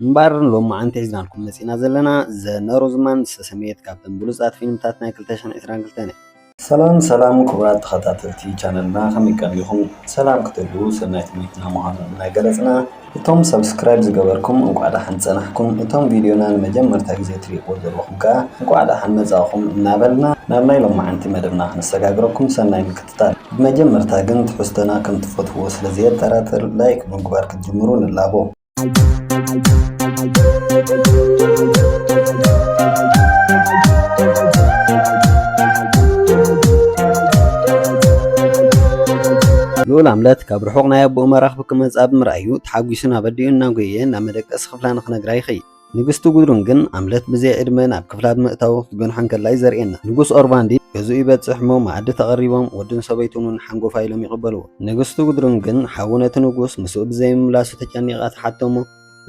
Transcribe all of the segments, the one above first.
እምበኣር ሎምዓንቲ ሒዝናልኩም መጺእና ዘለና The Northman ዝተሰምየት ካብተን ብሉጻት ፊልምታት ናይ ክልተ ሽሕን ዕስራን ክልተን እያ። ሰላም ሰላም ክቡራት ተኸታተልቲ ቻነልና ከመይ ቀኒኹም ሰላም ክትህልዉ ሰናይ ተመኝና ምዃኑ እናገለጽና እቶም ሰብስክራይብ ዝገበርኩም እንቋዕ ደሓን ጸናሕኩም እቶም ቪድዮና ንመጀመርታ ግዜ ትሪእዎ ዘለኹም ከኣ እንቋዕ ደሓን መጻእኹም እናበልና ናብ ናይ ሎምዓንቲ መደብና ክነሰጋግረኩም ሰናይ ምክትታል ብመጀመርታ ግን ትሕዝቶና ከም ትፈትዉዎ ስለ ዘየጠራጥር ላይክ ብምግባር ክትጅምሩ ንላቦ። ልኡል ኣምለት ካብ ርሑቕ ናይ ኣቦኡ መራኽቡ ክመጽኣ ብምርኣዩ ተሓጒሱን ኣበዲኡን እናጎየየ ናብ መደቀሲ ክፍላ ንኽነግራ ይኸይድ። ንግስቲ ጉድሩን ግን ኣምለት ብዘይ ዕድመ ናብ ክፍላ ብምእታው ክትገንሖ እንከላ እዩ ዘርእየና። ንጉስ ኦርቫንዲ ገዝኡ ይበጽሕ እሞ መኣዲ ተቐሪቦም ወዱን ሰበይቱን እውን ሓንጎፋይ ኢሎም ይቕበልዎ። ንግስቲ ጉድሩን ግን ሓዉ ነቲ ንጉስ ምስኡ ብዘይምምላሱ ተጨኒቓ ትሓቶ እሞ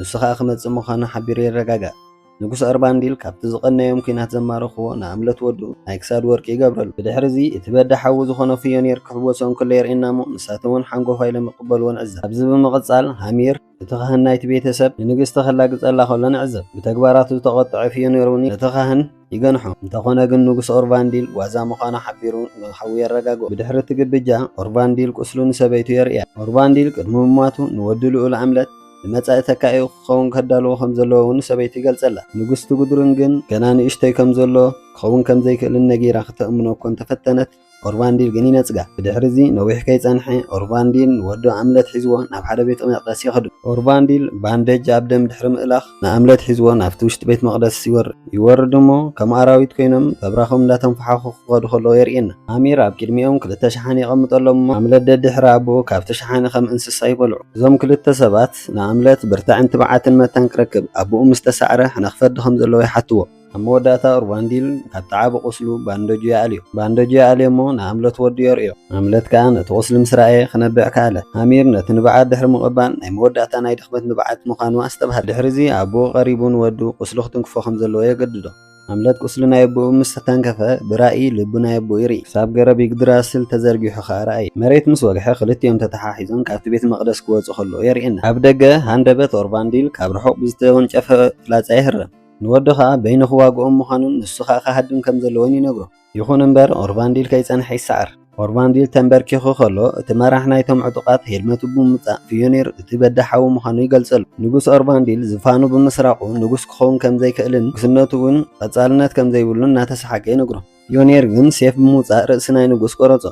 ንሱ ከኣ ክመጽእ ምዃኑ ሓቢሩ የረጋግኣ። ንጉስ ኦርቫንዲል ካብቲ ዝቐነዮም ኲናት ዘማረኽዎ ንኣምለት ወዱ ናይ ክሳድ ወርቂ ይገብረሉ። ብድሕሪዚ እቲ በዳ ሓዉ ዝኾኖ ፍዮኒር ክሕወሶ እንከሎ የርእየና እሞ ንሳቶም እውን ሓንጎፋይ ኢሎም ይቕበልዎ ንዕዘብ። ካብዚ ብምቕጻል ሃሚር፣ እቲ ኻህን ናይቲ ቤተ ሰብ ንንግስቲ ኸላግጸላ ኸሎ ንዕዘብ። ብተግባራቱ ዝተቖጥዐ ፍዮኒር እውን ነቲ ኻህን ይገንሖ። እንተዀነ ግን ንጉስ ኦርቫንዲል ዋዛ ምዃኑ ሓቢሩ ንሓዉ የረጋግኦ። ብድሕሪ እቲ ግብጃ፣ ኦርቫንዲል ቍስሉ ንሰበይቱ የርእያ። ኦርቫንዲል ቅድሚ ምሟቱ ንወዱ ልኡል ኣምለት ንመጻኢ ተካኢኡ ክኸውን ከዳልዎ ከም ዘለዎ እውን ንሰበይቱ ይገልጸላ። ንግስቲ ጉድሩን ግን ገና ንእሽቶይ ከም ዘሎ፣ ክኸውን ከም ዘይክእልን ነጊራ ክተእምኖ እኳ እንተ ፈተነት፣ ኦርቫንዲል ግን ይነጽጋ። ብድሕሪ'ዚ ነዊሕ ከይጸንሐ፣ ኦርቫንዲል ንወዱ ኣምለት ሒዝዎ ናብ ሓደ ቤተ መቕደስ ይኸዱ። ኦርቫንዲል ባንደጅ ኣብ ደም ድሕሪ ምእላኽ፣ ንኣምለት ሒዝዎ ናብቲ ውሽጢ ቤት መቕደስ ይወርድ። ይወርድ እሞ ከም ኣራዊት ኰይኖም በብራኾም እንዳተንፈሓኹ ክኸዱ ከለዉ የርእየና። ኣሚር ኣብ ቅድሚኦም ክልተ ሸሓኒ የቐምጠሎም እሞ ኣምለት ደድሕሪ ኣቦኡ ካብቲ ሸሓኒ ከም እንስሳ ይበልዑ። እዞም ክልተ ሰባት ንኣምለት ብርታዐን ትብዓትን መታን ክረክብ ኣቦኡ ምስ ተሳዕረ ሕነ ክፈዲ ከም ዘለዎ ይሓትዎ። ኣብ መወዳእታ ኡርቫንዲል ካብ ተዓቢ ቁስሉ ባንደጁ ይኣልዮ። ባንደጁ ይኣልዮ እሞ ንኣምለት ወዱ የርእዮ። ኣምለት ከኣ ነቲ ቁስሊ ምስ ረኣየ ክነብዕ ከኣለ። ሃሚር ነቲ ንብዓት ድሕሪ ምቕባል ናይ መወዳእታ ናይ ድኽመት ንብዓት ምዃኑ ኣስተብሃለ። ድሕሪዚ ኣቡኡ ቀሪቡ ንወዱ ቁስሉ ክትንክፎ ከም ዘለዎ የገድዶ። ኣምለት ቁስሊ ናይ ኣቡኡ ምስ ተንከፈ ብራኢ ልቡ ናይ ኣቡኡ ይርኢ። ክሳብ ገረብ ይግድራስል ተዘርጊሑ ከኣ ረኣየ። መሬት ምስ ወግሐ ክልቲኦም ተተሓሒዞም ካብቲ ቤት መቕደስ ክወጹ ከለዉ የርእየና። ኣብ ደገ ሃንደበት ኡርቫንዲል ካብ ርሑቕ ብዝተወንጨፈ ፍላጻ ይህረም። ንወዱ ኸኣ በይኑ ኺዋግኦም ምዃኑን ንሱ ኸኣ ኺሃድም ከም ዘለዎን ይነግሮ። ይኹን እምበር፣ ኦርቫንዲል ከይጸንሐ ይሰዓር። ኦርቫንዲል ተምበርኪኹ ኸሎ፣ እቲ መራሕ ናይቶም ዕጡቓት ሄልመቱ ብምውጻእ፣ ፊዮኒር እቲ በዳሂ ሓዉ ምዃኑ ይገልጸሉ። ንጉስ ኦርቫንዲል ዝፋኑ ብምስራቑ ንጉስ ኪኸውን ከም ዘይክእልን ንጉስነቱ እውን ቐጻልነት ከም ዘይብሉን እናተሰሓገ ይነግሮ። ዮኔር ግን ሴፍ ብምውጻእ ርእሲ ናይ ንጉስ ቆረጾ።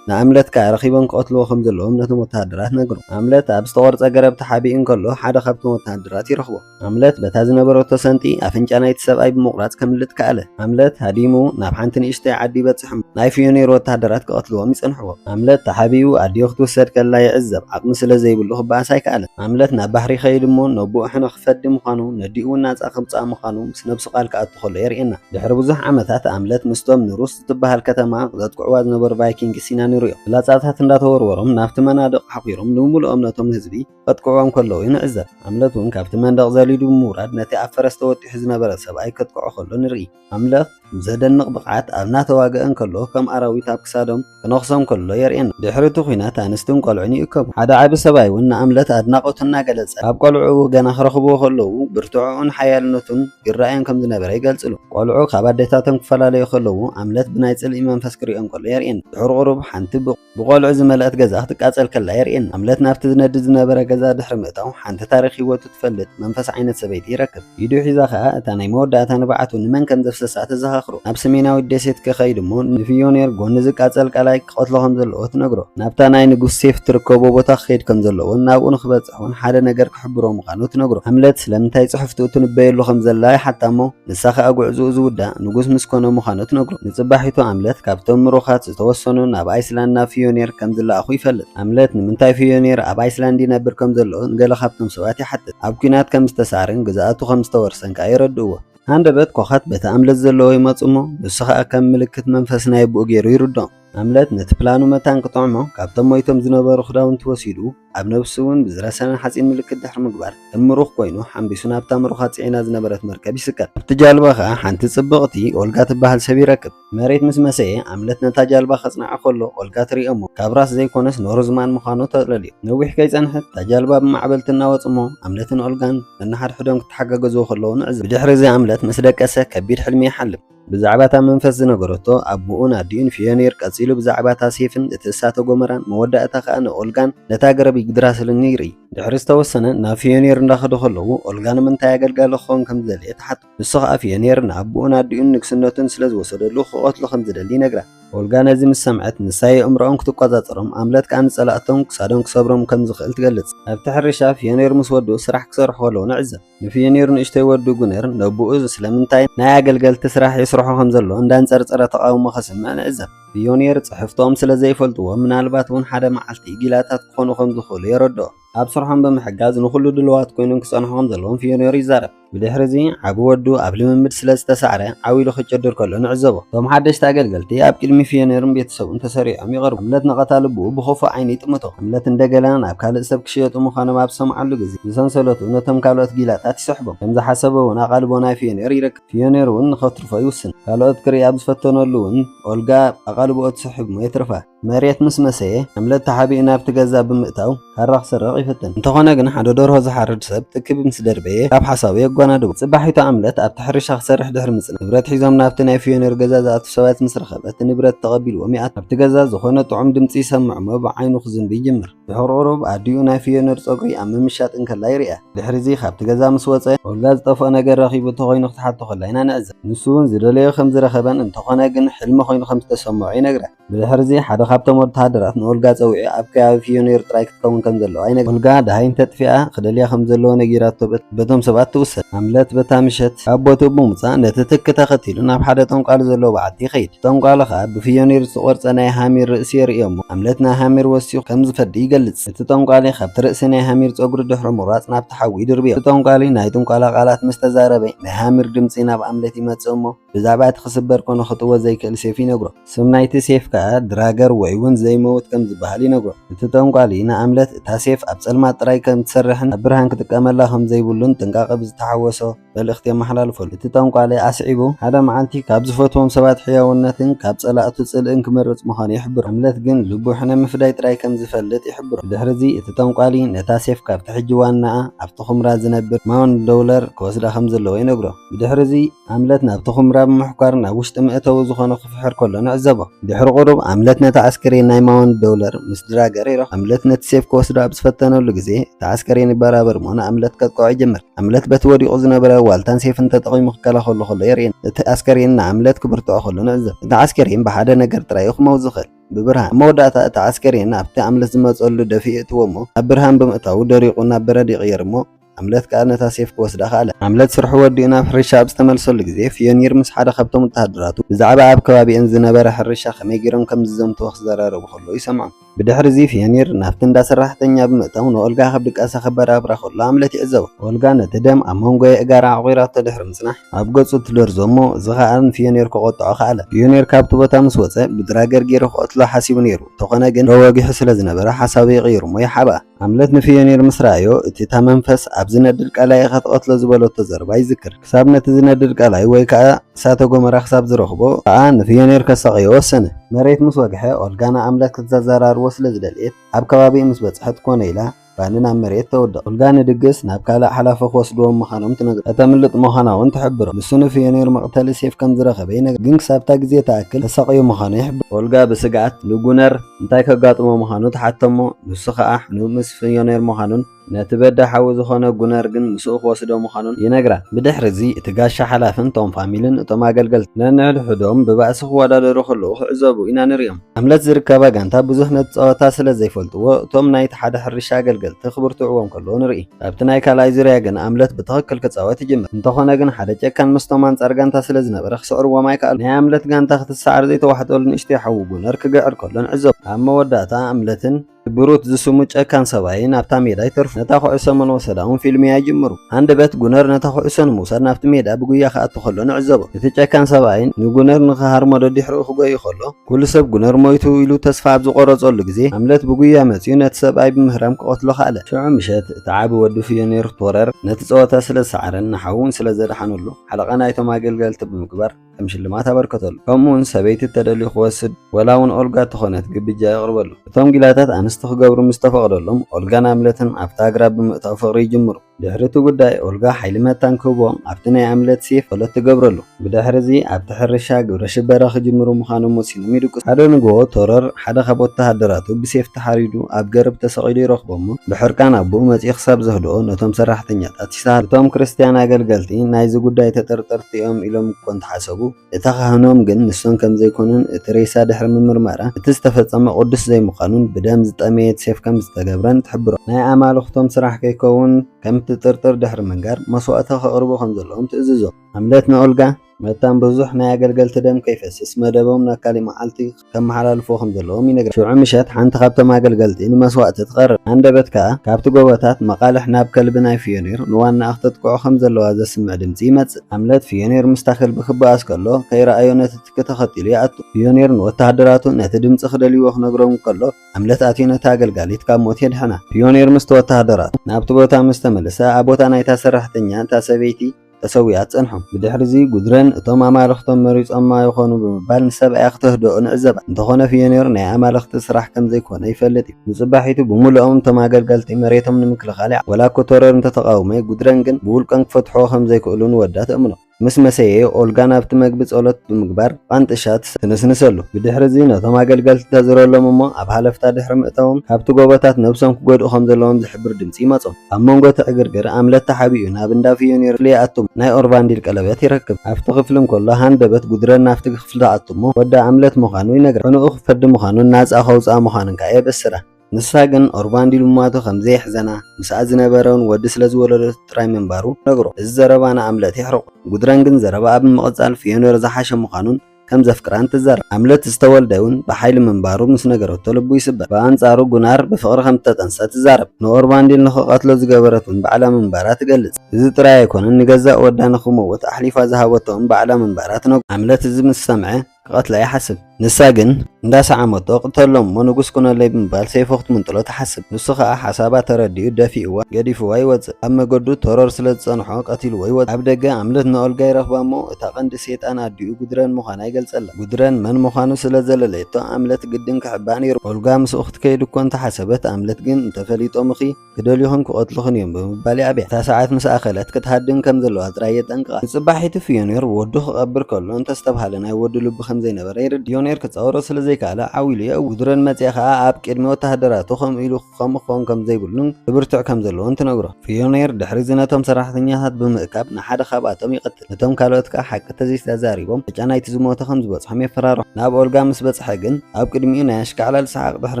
ንኣምለት ከኣ ረኺቦም ክቐትልዎ ከም ዘለዎም ነቶም ወተሃደራት ነገሮም። ኣምለት ኣብ ዝተቖርጸ ገረብ ተሓቢኡ እንከሎ ሓደ ካብቶም ወተሃደራት ይረኽቦ። ኣምለት በታ ዝነበረቶ ሰንጢ ኣፍንጫ ናይቲ ሰብኣይ ብምቑራጽ ከምልጥ ከኣለ። ኣምለት ሃዲሙ ናብ ሓንቲ ንእሽተይ ዓዲ ይበጽሕ እሞ ናይ ፍዮኔር ወተሃደራት ክቐትልዎም ይጸንሕዎ። ኣምለት ተሓቢኡ ኣዲኡ ክትውሰድ ከላ ይዕዘብ፣ ዓቕሚ ስለ ዘይብሉ ክበኣስ ኣይከኣለን። ኣምለት ናብ ባሕሪ ይኸይድ እሞ ነቦኡ ሕነ ክፈዲ ምዃኑ ነዲኡ'ውን ናጻ ከምጽኣ ምዃኑ ምስ ነብሱ ቃል ክኣቱ ከሎ የርእየና። ድሕሪ ብዙሕ ዓመታት ኣምለት ምስቶም ንሩስ እትበሃል ከተማ ዘጥቅዕዋ ዝነበሩ ቫይኪንግስ ኢና ንርእዮ። ፍላጻታት እንዳተወርወሮም ናብቲ መናድቕ ሓዂሮም ንምሉእም ነቶም ህዝቢ ከጥቅዕዎም ከለዉ ንዕዘብ። ኣምለት እውን ካብቲ መንደቕ ዘሊሉ ብምውራድ ነቲ ኣብ ፈረስ ተወጢሑ ዝነበረ ሰብኣይ ከጥቅዖ ከሎ ንርኢ። ኣምለት ብዘደንቕ ብቕዓት ኣብ እናተዋግኣ እንከሎ ከም ኣራዊት ኣብ ክሳዶም ክነኽሶም ከሎ የርእየና። ድሕሪ እቲ ኲናት ኣንስትን ቆልዑን ይእከቡ። ሓደ ዓቢ ሰብኣይ እውን ንኣምለት ኣድናቖቱ እናገለጸ፣ ካብ ቆልዑኡ ገና ክረኽብዎ ከለዉ ብርትዐኡን ሓያልነቱን ይረኣዮም ከም ዝነበረ ይገልጽሉ። ቆልዑ ካብ ኣዴታቶም ክፈላለዩ ከለዉ ኣምለት ብናይ ጽልኢ መንፈስ ክርእዮም ከሎ የርእየና። ድሕሪ ቁሩብ ሓንቲ ብቆልዑ ዝመልኣት ገዛ ክትቃጸል ከላ የርእየና። ኣምለት ናብቲ ዝነድድ ዝነበረ ገዛ ድሕሪ ምእታው ሓንቲ ታሪኽ ህይወቱ ትፈልጥ መንፈስ ዓይነት ሰበይቲ ይረክብ። ኢዱ ሒዛ ከኣ እታ ናይ መወዳእታ ንብዓቱ ንመን ከም ዘፍሰሳ ተዘኻኽሮ። ናብ ሰሜናዊት ደሴት ከኸይድ እሞ ንፊዮኔር ጎኒ ዝቃጸል ቀላይ ክቐትሎ ከም ዘለዎ ትነግሮ። ናብታ ናይ ንጉስ ሴፍ ትርከቦ ቦታ ክኸይድ ከም ዘለዎን ናብኡ ንክበጽሕ እውን ሓደ ነገር ክሕብሮ ምዃኑ ትነግሮ። ሃምለት ስለምንታይ ጽሑፍቱ እትንበየሉ ከም ዘላ ይሓታ እሞ፣ ንሳ ኸኣ ጉዕዝኡ ዝውዳእ ንጉስ ምስ ኮነ ምዃኑ ትነግሮ። ንጽባሒቱ ኣምለት ካብቶም ምሩኻት ዝተወሰኑ ናብ ኣይስላንድ ናብ ፊዮኒር ከም ዝለኣኹ ይፈልጥ። ኣምለት ንምንታይ ፊዮኒር ኣብ ኣይስላንድ ይነብር ከም ዘሎ ንገለ ካብቶም ሰባት ይሓትት። ኣብ ኲናት ከም ዝተሳዕረን ግዝኣቱ ከም ዝተወርሰን ከኣ የረድእዎ። ሃንደበት ኮኻት በቲ ኣምለት ዘለዎ ይመጹ እሞ ንሱ ኸኣ ከም ምልክት መንፈስ ናይ ኣቡኡ ገይሩ ይርድኦም። ኣምለት ነቲ ፕላኑ መታን ክጥዕሞ ካብቶም ሞይቶም ዝነበሩ ክዳውንቲ ወሲዱ፣ ኣብ ነብሱ'ውን ብዝረሰነን ሓጺን ምልክት ድሕሪ ምግባር፣ ከም ምሩኽ ኮይኑ ሓንቢሱ ናብታ ምሩኻ ጽዒና ዝነበረት መርከብ ይስቀል። ኣብቲ ጃልባ ከኣ ሓንቲ ጽብቕቲ ኦልጋ ትበሃል ሰብ ይረክብ። መሬት ምስ መሰየ፣ ኣምለት ነታ ጃልባ ከጽንዓ ከሎ፣ ኦልጋ ትርእዮ'ሞ፣ ካብ ራስ ዘይኮነስ ኖርዝማን ምዃኑ ተረድኦ። ነዊሕ ከይጸንሐት፣ እታ ጃልባ ብማዕበል ትናወጽ'ሞ፣ ኣምለትን ኦልጋን ነንሓድሕዶም ክተሓጋገዙ ከለዉ ንዕዘብ። ብድሕሪ'ዚ ኣምለት ምስ ደቀሰ፣ ከቢድ ሕልሚ ይሓልም። ብዛዕባ እታ መንፈስ ዝነገረቶ ኣቡኡን ኣዲኡን ፍዮኒር ቀጺሉ ብዛዕባ እታ ሴፍን እቲ እሳተ ጎመራን መወዳእታ ከኣ ንኦልጋን ነታ ገረብ ይግድራስልን ይርኢ። ድሕሪ ዝተወሰነ ናብ ፍዮኒር እንዳኸዱ ከለዉ ኦልጋ ንምንታይ ኣገልጋሊ ክኸውን ከም ዝደለየ ትሓቶ። ንሱ ከኣ ፍዮኒር ንኣቡኡን ኣዲኡን ንግስነቱን ስለ ዝወሰደሉ ክቐትሎ ከም ዝደሊ ይነግራ። ኦልጋ ነዚ ምስ ሰምዐት ንሳ የእምሮኦም ክትቆጻጸሮም ኣምለት ከኣ ንጸላእቶም ክሳዶም ክሰብሮም ከም ዝኽእል ትገልጽ። ኣብቲ ሕርሻ ፍዮኒር ምስ ወዱ ስራሕ ክሰርሑ ከለዉ ንዕዘብ። ንፊዮኒር ንእሽቶይ ወዱ ጉነር ነቦኡ ስለምንታይ ናይ ኣገልገልቲ ስራሕ የስርሖ ከም ዘሎ እንዳንጸርጸረ ተቓውሞ ከስምዕ ንዕዘብ። ፊዮኒር ጽሕፍቶም ስለ ዘይፈልጥዎ ምናልባት እውን ሓደ መዓልቲ ጊላታት ክኾኑ ከም ዝኽእሉ የረድኦም። ኣብ ስርሖም ብምሕጋዝ ንኹሉ ድሉዋት ኮይኖም ክጸንሑ ከም ዘለዎም ፊዮኒር ይዛረብ። ብድሕሪ እዚ ዓቢ ወዱ ኣብ ልምምድ ስለ ዝተሳዕረ ዓው ኢሉ ክጭድር ከሎ ንዕዘቦ። እቶም ሓደሽቲ ኣገልገልቲ ኣብ ቅድሚ ፊዮኒርን ቤተሰቡን ተሰሪዖም ይቐርቡ። ሃምለት ነቐታ ልቡ ብኽፉእ ዓይኒ ይጥምቶ። ሃምለት እንደገና ናብ ካልእ ሰብ ክሽየጡ ምዃኖም ኣብ ዝሰምዓሉ ግዜ፣ ብሰንሰለቱ ነቶም ካልኦት ጊላታት ይስሕቦም። ከም ዝሓሰቦ እውን ኣቓልቦ ናይ ፊዮኔር ይረክብ። ፊዮኔር እውን ንኸትርፎ ይውስን። ካልኦት ክርኢ ኣብ ዝፈተነሉ እውን ኦልጋ ኣቓልቦኡ ትስሕብ እሞ የትርፋ። መሬት ምስ መሰየ፣ ሃምለት ተሓቢኡ ናብቲ ገዛ ብምእታው ካራ ክስርቕ ይፍትን። እንተኾነ ግን ሓደ ደርሆ ዝሓርድ ሰብ ትኪ ምስ ደርበየ ካብ ሓሳቡ የጓናድቦ። ጽባሒቱ ኣምለት ኣብቲ ሕርሻ ክሰርሕ ድሕሪ ምጽናሕ፣ ንብረት ሒዞም ናብቲ ናይ ፊዮኔር ገዛ ዝኣትው ሰባት ምስ ረኸበ እቲ ንብረት ተቐቢልዎም ይኣቱ። ኣብቲ ገዛ ዝኾነ ጥዑም ድምጺ ይሰምዕ እሞ ብዓይኑ ክዝንቢ ይጅምር። ድሑር ቁሩብ ኣዲኡ ናይ ፍዮነር ጸጉሪ ኣብ ምምሻጥ እንከላ ይርኣ። ድሕሪዚ ካብቲ ገዛ ምስ ወጸ፣ ኦልጋ ዝጠፍኦ ነገር ረኺቡ እንተኾይኑ ክትሓቶ ከላ ኢና ንዕዘብ። ንሱ'ውን ዝደለዮ ከም ዝረኸበን እንተኾነ ግን ሕልሚ ኮይኑ ከም ዝተሰምዖ ይነግራ። ብድሕሪዚ ሓደ ካብቶም ወተሃደራት ንኦልጋ ጸዊዑ ኣብ ከባቢ ፍዮኔር ጥራይ ክትከውን ከም ዘለዋ ይነግራ። ኦልጋ ደሃይ እንተጥፊኣ ክደልያ ከም ዘለዎ ነጊራቶ በት። በቶም ሰባት ትውሰድ። ሃምለት በታ ምሸት ካብ ቦትኡ ብምውጻእ ነቲ ትኪ ተኸቲሉ ናብ ሓደ ጠንቋሊ ዘለዎ በዓቲ ይኸይድ። ጠንቋሊ ከኣ ብፍዮኒር ዝተቖርጸ ናይ ሃሚር ርእሲ የርእዮ'ሞ ሃምለት ናይ ሃሚር ወሲኹ ከም ዝፈዲ ይገልጽ። እቲ ጠንቋሊ ካብቲ ርእሲ ናይ ሃሚር ጸጉሪ ድሕሪ ምቑራጽ ናብቲ ሓዊ ይድርብዮ። እቲ ጠንቋሊ ናይ ጥንቆላ ቃላት ምስ ተዛረበ ናይ ሃሚር ድምጺ ናብ ሃምለት ይመጽእ'ሞ፣ ብዛዕባ እቲ ክስበር ኮነ ክጥወ ዘይክእል ሴፍ ይነግሮ። ስም ናይቲ ሴፍ ከኣ ድራገር ወይውን ዘይመውት ከም ዝበሃል ይነግሮ። እቲ ጠንቋሊ ንኣምለት እታ ሴፍ ኣብ ጸልማት ጥራይ ከም እትሰርሕን ኣብ ብርሃን ክጥቀመላ ከም ዘይብሉን ጥንቃቐ ብዝተሓወሶ መልእኽቲ የመሓላልፈሉ። እቲ ጠንቋሊ ኣስዒቡ ሓደ መዓልቲ ካብ ዝፈትዎም ሰባት ሕያውነትን ካብ ጸላእቱ ጽልእን ክመርጽ ምዃኑ ይሕብሮ። ኣምለት ግን ልቡ ሕነ ምፍዳይ ጥራይ ከም ዝፈልጥ ይሕብሮ። ብድሕርዚ እቲ ጠንቋሊ ነታ ሴፍ ካብቲ ሕጂ ዋናኣ ኣብቲ ኵምራ ዝነብር ማውንት ደውለር ክወስዳ ከም ዘለዎ ይነግሮ። ብድሕርዚ ኣምለት ናብቲ ኵምራ ብምሕኳር ናብ ውሽጢ መእተዊ ዝዀነ ክፍሕር ከሎ ንዕዘቦ። ድሕሪ ቍሩብ፣ ኣምለት ነታ ኣስከሬን ናይ ማወንድ ደውለር ምስ ድራገር ይረኽቦ። ኣምለት ነቲ ሴፍ ክወስዶ ኣብ ዝፈተነሉ ግዜ፣ እቲ ኣስከሬን ይበራበር እሞ ንኣምለት ከጥቅዖ ይጅምር። ኣምለት በቲ ወዲቑ ዝነበረ ዋልታን ሴፍን ተጠቒሙ ክከላኸሎ ከሎ የርእየና። እቲ ኣስከሬን ንኣምለት ክብርትዖ ከሎ ንዕዘብ። እቲ ዓስከሬን ብሓደ ነገር ጥራይ እዩ ክመውት ዝኽእል፣ ብብርሃን። ኣብ መወዳእታ እቲ ዓስከሬን ኣብቲ ኣምለት ዝመጸሉ ደፊኡ የእትዎ እሞ፣ ናብ ብርሃን ብምእታዉ ደሪቑ ናብ በረድ ይቕየር እሞ፣ ኣምለት ከኣ ነታ ሴፍ ክወስዳ ከኣለ። ኣምለት ስርሑ ወዲኡ ናብ ሕርሻ ኣብ ዝተመልሰሉ ግዜ፣ ፍዮኒር ምስ ሓደ ካብቶም ወተሃደራቱ ብዛዕባ ኣብ ከባቢኤን ዝነበረ ሕርሻ ከመይ ገይሮም ከም ዝዘምትዎ ክዘራረቡ ከለዉ ይሰምዖም። ብድሕርዚ ፍዮኒር ናብቲ እንዳ ሰራሕተኛ ብምእታው ንኦልጋ ካብ ድቃሳ ከበራብራ ከሎ ኣምለት ይዕዘቦ። ኦልጋ ነቲ ደም ኣብ መንጎ የእጋራ ኣዕቑራቶ ድሕሪ ምጽናሕ፣ ኣብ ገጹ ትደርዞ እሞ እዚ ከኣ ንፍዮኒር ከቖጥዖ ከኣለ። ፍዮኒር ካብቲ ቦታ ምስ ወጸ ብድራገር ገይሩ ክቐትሎ ሓሲቡ ነይሩ፣ እንተኾነ ግን ዶ ወጊሑ ስለ ዝነበረ ሓሳቡ ይቕይር እሞ ይሓብኣ። ሃምለት ንፍዮኒር ምስ ረኣዮ፣ እቲ እታ መንፈስ ኣብ ዝነድድ ቀላይ ኢኻ ትቐትሎ ዝበለቶ ዘረባ ይዝክር። ክሳብ ነቲ ዝነድድ ቀላይ ወይ ከኣ እሳተ ጎመራ ክሳብ ዝረኽቦ ከኣ ንፍዮኒር ከሳቕዮ ወሰነ። መሬት ምስ ወግሐ፣ ኦልጋ ንኣምለት ከተዘራርቦ ስለ ዝደለየት፣ ኣብ ከባቢኡ ምስ በጽሐት ኮነ ኢላ ባኒ ናብ መሬት ተውድቕ። ኦልጋ ንድግስ ናብ ካልእ ሓላፊ ክወስድዎም ምዃኖም ትነግሮ። ከተምልጥ ምዃና'ውን ትሕብሮ። ንሱ ንፍዮኒር መቕተሊ ሴፍ ከም ዝረኸበ ይነግራ፣ ግን ክሳብ እታ ግዜ ትኣክል ከሳቕዮ ምዃኑ ይሕብራ። ኦልጋ ብስግኣት ንጉነር እንታይ ከጋጥሞ ምዃኑ ተሓተሞ፣ ንሱ ከኣ ሕኑብ ምስ ፍዮኔር ምዃኑን ነቲ በዳ ሓዉ ዝኾነ ጉነር ግን ምስኡ ክወስዶ ምዃኑን ይነግራ። ብድሕሪ'ዚ እቲ ጋሻ ሓላፍን ቶም ፋሚልን እቶም ኣገልገልቲ ነንሕድሕዶም ብባእሲ ክወዳደሩ ከለዉ ክዕዘቡ ኢና ንርእዮም። ሃምለት ዝርከባ ጋንታ ብዙሕ ነቲ ጸወታ ስለ ዘይፈልጥዎ እቶም ናይቲ ሓደ ሕርሻ ኣገልገልቲ ክብርትዕዎም ከለዉ ንርኢ። ኣብቲ ናይ ካልኣይ ዙርያ ግን ኣምለት ብትኽክል ክጻወት ይጅምር። እንተኾነ ግን ሓደ ጨካን ምስቶም ኣንጻር ጋንታ ስለ ዝነበረ ክስዕርዎም ኣይከኣሉን። ናይ ኣምለት ጋንታ ክትሰዓር ዘይተዋሕጠሉ ንእሽተይ ሓዉ ጉነር ክግዕር ከሎ ንዕዘቦ። ኣብ መወዳእታ ኣምለትን እቲ ብሩት ዝስሙ ጨካን ሰብኣይን ኣብታ ሜዳ ይተርፉ። ነታ ኩዕሶ መን ወሰዳ'ውን ፊልምያ ይጅምሩ። ሃንደበት ጉነር ነታ ኩዕሶ ንምውሳድ ናብቲ ሜዳ ብጉያ ክኣቱ ከሎ ንዕዘቦ። እቲ ጨካን ሰብኣይን ንጉነር ንክሃርሞ ደዲሕርኡ ክጎዪ ከሎ፣ ኩሉ ሰብ ጉነር ሞይቱ ኢሉ ተስፋ ኣብ ዝቖረጸሉ ግዜ፣ ሃምለት ብጉያ መጺኡ ነቲ ሰብኣይ ብምህራም ክቐትሎ ከኣለ። ሽዑ ምሸት፣ እቲ ዓቢ ወዱ ፍዮኒር ቶረር ነቲ ጸወታ ስለ ዝሰዓረን ንሓዉ'ውን ስለ ዘድሓነሉ፣ ሓለቓ ናይቶም ኣገልገልቲ ብምግባር ከም ሽልማት ኣበርከተሉ። ከምኡ'ውን ሰበይቲ እተደልዩ ክወስድ ወላ'ውን ኦልጋ እተኾነት ግብጃ የቕርበሉ። እቶም ጊላታት ኣንስቲ ክገብሩ ምስ ተፈቕደሎም፣ ኦልጋን ሃምለትን ኣብቲ ኣግራብ ብምእታው ፍቕሪ ይጅምሩ። ድሕሪ እቲ ጉዳይ ኦልጋ ሓይሊ መታን ክህቦ ኣብቲ ናይ ኣምለትሲ ፈሎት ትገብረሉ። ብድሕሪ እዚ ኣብቲ ሕርሻ ግብረ ሽበራ ክጅምሩ ምዃኖም ወሲኖም ይድቅሱ። ሓደ ንጎሆ ቶረር ሓደ ካብ ወተሃደራቱ ብሴፍ ተሓሪዱ ኣብ ገርብ ተሰቒሉ ይረኽቦ እሞ ብሕርቃን ኣቡኡ መጺኡ ክሳብ ዘህድኦ ነቶም ሰራሕተኛታት ይስሃሎ። እቶም ክርስትያን ኣገልገልቲ ናይዚ ጉዳይ ተጠርጠርቲ እዮም ኢሎም እኮ እንተሓሰቡ፣ እታ ካህኖም ግን ንሶም ከም ዘይኮኑን እቲ ሬሳ ድሕሪ ምምርማራ እቲ ዝተፈጸመ ቅዱስ ዘይምዃኑን ብደም ዝጠመየት ሴፍ ከም ዝተገብረን ትሕብሮም። ናይ ኣማልኽቶም ስራሕ ከይከውን ከም እትጥርጥር ድሕሪ ምንጋር መስዋእቲ ከቕርቡ ከም ዘለዎም ትእዝዞም። ሃምለት ንኦልጋ መታን ብዙሕ ናይ ኣገልገልቲ ደም ከይፈስስ መደቦም ናብ ካሊእ መዓልቲ ከመሓላልፍዎ ከም ዘለዎም ይነግረን። ሽዑ ምሸት ሓንቲ ካብቶም ኣገልገልቲ ንመስዋእቲ ትቐርብ። ሃንደበት ከኣ ካብቲ ጎቦታት መቓልሕ ናብ ከልቢ ናይ ፍዮኒር ንዋናኣ ክተጥቅዖ ከም ዘለዋ ዘስምዕ ድምጺ ይመጽእ። ሃምለት ፍዮኒር ምስታ ከልቢ ክበኣስ ከሎ ከይረኣዮ ነቲ ትኪ ተኸቲሉ ይኣቱ። ፍዮኒር ንወተሃደራቱ ነቲ ድምጺ ክደልይዎ ክነግሮም እንከሎ ሃምለት ኣትዩ ነታ ኣገልጋሊት ካብ ሞት የድሕና። ፍዮኒር ምስቲ ወተሃደራቱ ናብቲ ቦታ ምስ ተመልሰ ኣብ ቦታ ናይታ ሰራሕተኛ እታ ሰበይቲ ተሰዊኣ ትጸንሑ። ብድሕርዚ ጉድረን እቶም ኣማልኽቶም መሪጾማ ይኾኑ ብምባል ንሰብኣያ ክተህድኦ ንዕዘባ። እንተኾነ ፍዮኒር ናይ ኣማልኽቲ ስራሕ ከም ዘይኮነ ይፈልጥ እዩ። ንጽባሒቱ ብምሉኦም እቶም ኣገልገልቲ መሬቶም ንምክልኻል ይዓልሙ። ዋላ እኮ ቶረር እንተ ተቓውመ፣ ጉድረን ግን ብውልቀን ክፈትሕዎ ከም ዘይክእሉ ንወዳ ትእምኖ። ምስ መሰየ፣ ኦልጋ ናብቲ መግቢ ጸሎት ብምግባር ቛንጥሻ ትንስንሰሉ። ብድሕርዚ ነቶም ኣገልገልቲ ተዝረሎም እሞ ኣብ ሃለፍታ ድሕሪ ምእታዎም ካብቲ ጎቦታት ነብሶም ክጎድኡ ከም ዘለዎም ዝሕብር ድምጺ ይመጾም። ኣብ መንጎ እቲ ዕግርግር ኣምለት ተሓቢኡ ናብ እንዳ ፊዮኒር ለይኣቱ ናይ ኦርቫንዲል ቀለበት ይረክብ። ኣብቲ ክፍሊ እንከሎ ሃንደበት ጉድረን ናብቲ ክፍሊ ትኣቱ እሞ ወዲ ኣምለት ምዃኑ ይነግራ። ሕኑኡ ክፈዲ ምዃኑን ናጻ ከውጽኣ ምዃኑን ከኣ የበስራ። ንሳ ግን ኦርቫንዲል ምሟቱ ከም ዘየሕዘና ምስኣ ዝነበረ ውን ወዲ ስለ ዝወለደቶ ጥራይ ምንባሩ ትነግሮ። እዚ ዘረባ ንኣምለት የሕርቖ። ጉድረን ግን ዘረባኣ ብምቕጻል ፊዮኒር ዝሓሸ ምዃኑን፣ ከም ዘፍቅራን ትዛረብ። ሃምለት ዝተወልደ እውን ብሓይሊ ምንባሩ ምስ ነገረቶ ልቡ ይስበር። ብኣንጻሩ ጉናር ብፍቕሪ ከም እተጠንሰ ትዛረብ። ንኦርቫንዲል ንኽቐትሎ ዝገበረት እውን ባዕላ ምንባራ ትገልጽ። እዚ ጥራይ ኣይኰነን፣ ንገዛእ ወዳ ንኽመውት ኣሕሊፋ ዝሃበቶ እውን ባዕላ ምንባራ ትነግሮ። ሃምለት እዚ ምስ ሰምዐ ክቐትላ ይሓስብ። ንሳ ግን። እንዳሰዓመቶ ቅተሎም እሞ ንጉስ ኩነለይ ብምባል ሰይፉ ክትምንጥሎ ትሓስብ። ንሱ ከኣ ሓሳባ ተረዲኡ ደፊእዋ ገዲፍዋ ይወጽእ። ኣብ መገዱ ተሮር ስለ ዝጸንሖ ቀቲልዎ ይወጽእ። ኣብ ደገ ኣምልት ንኦልጋ ይረኽባ እሞ እታ ቀንዲ ሴጣን ኣዲኡ ጉድረን ምዃና ይገልጸላ። ጉድረን መን ምዃኑ ስለ ዘለለየቶ ኣምልት ግድን ክሕብኣ ነይርዋ። ኦልጋ ምስኡ ክትከይድ እኮ እንተሓሰበት ኣምልት ግን እንተፈሊጦምኺ? ክደልዩኽን ክቐትሉኽን እዮም ብምባል የዕብያ። እታ ሰዓት ምስ ኣኸለት ክትሃድም ከም ዘለዋ ጥራይ የጠንቅቓ። ንጽባሒቱ ፍዮኒር ወዱ ክቐብር ከሎ እንተስተብሃለ ናይ ወዱ ልቢ ከም ዘይነበረ ይርድእ። ፍዮኒር ክጻወሮ ስለ ዘይከኣለ ዓው ኢሉ የእዊ። ጉድረን መጺኣ ከኣ ኣብ ቅድሚ ወተሃደራቱ ከምኡ ኢሉ ከምኡ ክኸውን ከም ዘይብሉን ክብርትዕ ከም ዘለዎን ትነግሮ። ፍዮኒር ድሕሪ'ዚ ነቶም ሰራሕተኛታት ብምእካብ ንሓደ ካብኣቶም ይቐትሎ። ነቶም ካልኦት ከኣ ሓቂ ተዘይተዛሪቦም ዕጫ ናይቲ ዝሞተ ከም ዝበጽሖም የፈራርሖም። ናብ ኦልጋ ምስ በጽሐ ግን ኣብ ቅድሚኡ ናይ ኣሽካዕላል ሰሓቕ ድሕሪ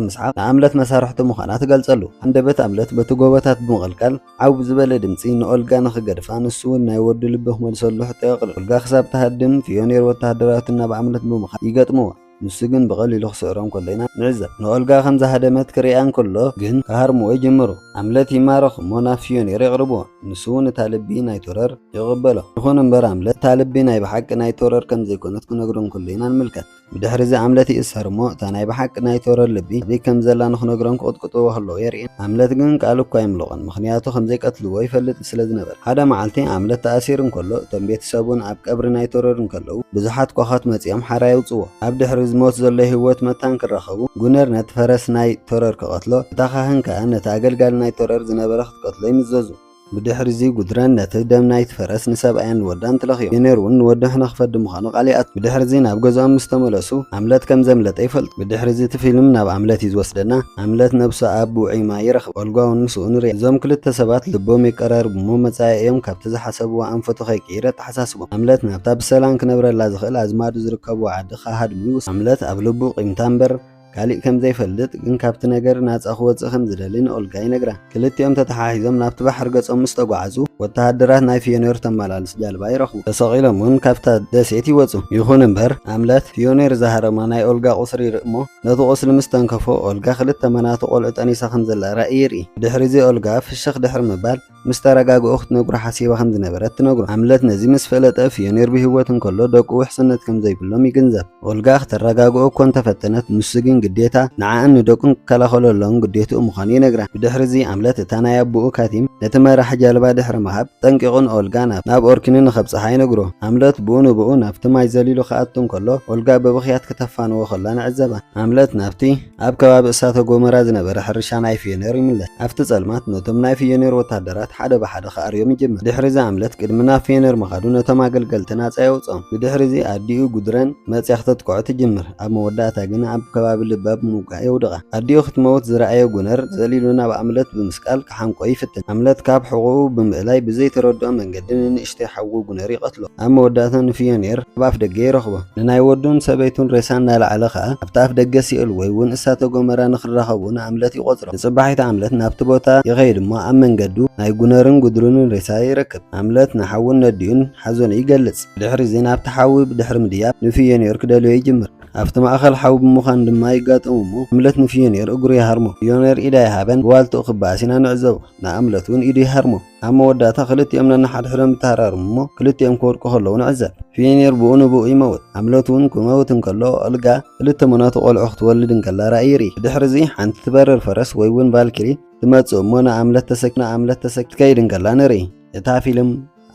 ምስሓቕ ንኣምለት መሳርሕቱ ምዃና ትገልጸሉ። ሃንደበት ኣምለት በቲ ጎቦታት ብምቕልቃል ዓው ብዝበለ ድምጺ ንኦልጋ ንኽገድፋ ንሱ'ውን ናይ ወዱ ልቢ ክመልሰሉ ሕቶ የቕርብ። ኦልጋ ክሳብ ትሃድም ፍዮኔር ወተሃደራቱ ናብ ኣምለት ብምኻድ ይገጥምዋ። ንሱ ግን ብቐሊሉ ክስዕሮም ከሎ ኢና ንዕዘብ። ንኦልጋ ከም ዝሃደመት ክርእያ እንከሎ ግን ክሃርምዎ ይጅምሩ። ኣምለት ይማረኽ እሞ ናብ ፍዮኒር የቕርብዎ። ንሱ እውን እታ ልቢ ናይ ቶረር ይቕበሎ። ይኹን እምበር ኣምለት እታ ልቢ ናይ ብሓቂ ናይ ቶረር ከም ዘይኮነት ክነግሮ እንከሎ ኢና ንምልከት። ብድሕሪዚ ኣምለት ይእሰር እሞ እታ ናይ ብሓቂ ናይ ቶረር ልቢ ኣበይ ከም ዘላ ንክነግሮም ክቕጥቅጥዎ ከለዉ የርእየና። ኣምለት ግን ቃል እኳ ኣይምልቖን ምኽንያቱ ከም ዘይቀትልዎ ይፈልጥ እዩ። ስለ ዝነበረ። ሓደ መዓልቲ ኣምለት ተኣሲሩ እንከሎ እቶም ቤተሰቡን ኣብ ቀብሪ ናይ ተረር እንከለዉ ብዙሓት ኳዃት መጺኦም ሓራ የውጽዎ። ኣብ ድሕሪ ዝሞት ዘሎ ህይወት መታን ክራኸቡ ጉነር ነቲ ፈረስ ናይ ተረር ክቐትሎ እታ ካህን ከኣ ነቲ ኣገልጋሊ ናይ ተረር ዝነበረ ክትቀትሎ ይምዘዙ። ብድሕሪዚ ጉድረን ነቲ ደም ናይቲ ፈረስ ንሰብኣያን ንወዳን ትለኽዮ። ጉነር እውን ንወዱ ሕነ ክፈዲ ምዃኑ ቃል ይኣቱ። ብድሕሪዚ ናብ ገዝኦም ምስ ተመለሱ ኣምለት ከም ዘምለጠ ይፈልጡ። ብድሕሪዚ እቲ ፊልም ናብ ኣምለት እዩ ዝወስደና። ኣምለት ነብሱ ኣብ ውዑይ ማይ ይረኽባ። ዋልጓውን ምስኡ ንሪኣ። እዞም ክልተ ሰባት ልቦም የቀራርቡ እሞ መጻኢኦም ካብቲ ዝሓሰብዎ ኣንፈቱ ከይቅይር ኣተሓሳስቦም። ሃምለት ናብታ ብሰላም ክነብረላ ዝኽእል ኣዝማዱ ዝርከብዎ ዓዲ ክሃድሙ ይውስን። ሃምለት ኣብ ልቡ ቂምታ እምበር ካሊእ ከም ዘይፈልጥ ግን ካብቲ ነገር ናጻ ክወጽእ ከም ዝደሊ ንኦልጋ ይነግራ። ክልቲኦም ተተሓሒዞም ናብቲ ባሕሪ ገጾም ምስ ተጓዓዙ ወተሃደራት ናይ ፍዮኔር ተመላልስ ጃልባ ይረኽቡ። ተሰቒሎም'ውን ካብታ ደሴት ይወጹ። ይኹን እምበር ሃምለት ፍዮኔር ዝሃረማ ናይ ኦልጋ ቁስሪ ይርኢ እሞ ነቲ ቁስሊ ምስ ተንከፎ፣ ኦልጋ ክልተ መናቱ ቆልዑ ጠኒሳ ከም ዘላ ራኢ ይርኢ። ብድሕሪ'ዚ ኦልጋ ፍሽኽ ድሕሪ ምባል፣ ምስ ተረጋግኡ ክትነግሮ ሓሲባ ከም ዝነበረት ትነግሮ። ሃምለት ነዚ ምስ ፈለጠ፣ ፍዮኒር ብህይወት እንከሎ ደቁ ውሕስነት ከም ዘይብሎም ይግንዘብ። ኦልጋ ክተረጋግኦ እኮ እንተ ፈተነት፣ ንሱ ግን ግዴታ ንዓኣን ንደቁን ክከላኸለሎም ግዴትኡ ምዃኑ ይነግራ። ብድሕሪ'ዚ ሃምለት እታ ናይ ኣቡኡ ካቲም ነቲ መራሒ ጃልባ ድሕሪ ምሃብ፣ ጠንቂቑ ንኦልጋ ናብ ኦርኪኑ ንኸብጽሓ ይነግሮ። ሃምለት ብኡ ንብኡ ናብቲ ማይ ዘሊሉ ክኣቱ እንከሎ፣ ኦልጋ ብብኽያት ከተፋንዎ ከላ ንዕዘባ። ሃምለት ናብቲ ኣብ ከባቢ እሳተ ጎመራ ዝነበረ ሕርሻ ናይ ፍዮኔር ይምለስ። ኣብቲ ጸልማት ነቶም ናይ ፍዮኔር ወተሃደራት ሓደ ብሓደ ክኣርዮም ይጅምር። ድሕሪዚ ሃምለት ቅድሚ ናብ ፍዮኔር ምኻዱ ነቶም ኣገልገልቲ ናጻ የውጽኦም። ብድሕሪዚ ኣዲኡ ጉድረን መጽያ ክተጥቅዖ ትጅምር። ኣብ መወዳእታ ግና ኣብ ከባቢ ልባ ብምውጋእ የውድቓ። ኣዲኡ ክትመውት ዝረኣየ ጉነር ዘሊሉ ናብ ሃምለት ብምስቃል ክሓንቆ ይፍትን። ሃምለት ካብ ሕቖኡ ብምእላይ ብዘይተረድኦ መንገዲ ንንእሽቶ ንእሽተይ ሓዉ ጉነር ይቐትሎ። ኣብ መወዳእታ ንፍዮኒየር ኣብ ኣፍደገ ይረኽቦ። ንናይ ወዱን ሰበይቱን ሬሳ እናልዓለ ከኣ ኣብቲ ኣፍደገ ሲኦል ወይ ውን እሳተ ጎመራ ንኽራኸቡ ንኣምለት ይቖጽሮ። ንጽባሒት ኣምለት ናብቲ ቦታ ይኸይድ እሞ ኣብ መንገዱ ናይ ጉነርን ጉድሩንን ሬሳ ይረክብ። ኣምለት ንሓዉን ነዲኡን ሓዘኑ ይገልጽ። ብድሕሪዚ ናብቲ ሓዊ ብድሕሪ ምድያብ ንፍዮኒየር ክደልዮ ይጅምር። ኣብቲ ማእከል ሓዊ ብምዃን ድማ ይጋጠሙ እሞ ኣምለት ንፍዮኒየር እግሩ ይሃርሞ። ፍዮኒየር ኢዳ ይሃበን ብዋልትኡ ክበኣስ ኢና ንዕዘቦ። ንኣምለት ውን ኢዱ ይሃርሞ። ኣብ መወዳእታ ክልቲኦም ነንሓድሕዶም ይተሃራርሙ እሞ ክልቲኦም ክወድቁ ከለዉ ንዕዘብ። ፊኒር ብኡ ንብኡ ይመውት። ሃምለት እውን ክመውት እንከሎ ኦልጋ ክልተ መናቱ ቆልዑ ክትወልድ እንከላ ራእይ ይርኢ። ብድሕርዚ ሓንቲ ትበርር ፈረስ ወይ እውን ቫልኪሪ ትመጽእ እሞ ንኣምለት ተሰኪማ ክትከይድ እንከላ ንርኢ። እታ ፊልም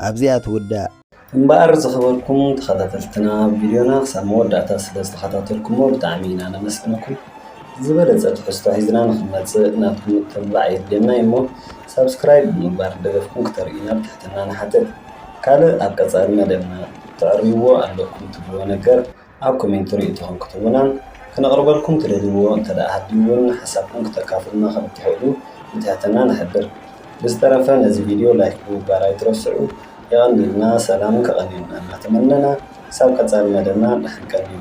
ኣብዚኣ ትውዳእ። እምበኣር ዝኸበርኩም ተኸታተልትና ቪድዮና ክሳብ መወዳእታ ስለ ዝተኸታተልኩሞ ብጣዕሚ ኢና ነመስግነኩም። ዝበለጸ ትሕዝቶ ሒዝና ንኽንመጽእ ናትኩም ምትብባዕ የድልየና እዩ እሞ ሳብስክራይብ ብምግባር ደገፍኩም ክተርእዩና ብትሕትና ንሓትት። ካልእ ኣብ ቀጻሊ መደብና ተዕርይዎ ኣለኩም ትብልዎ ነገር ኣብ ኮሜንቲ ርእይቶኹም ክትህቡናን ክነቕርበልኩም ትደልይዎ እንተድኣ ሃልዩ'ውን ሓሳብኩም ክተካፍሉና ከም እትኽእሉ ብትሕትና ንሕብር። ብዝተረፈ ነዚ ቪድዮ ላይክ ብምግባር ኣይትረስዑ። የቐንየልና ሰላምን ከቐንየልና እናተመነና ክሳብ ቀጻሊ መደብና ድሓን ቀንዩ።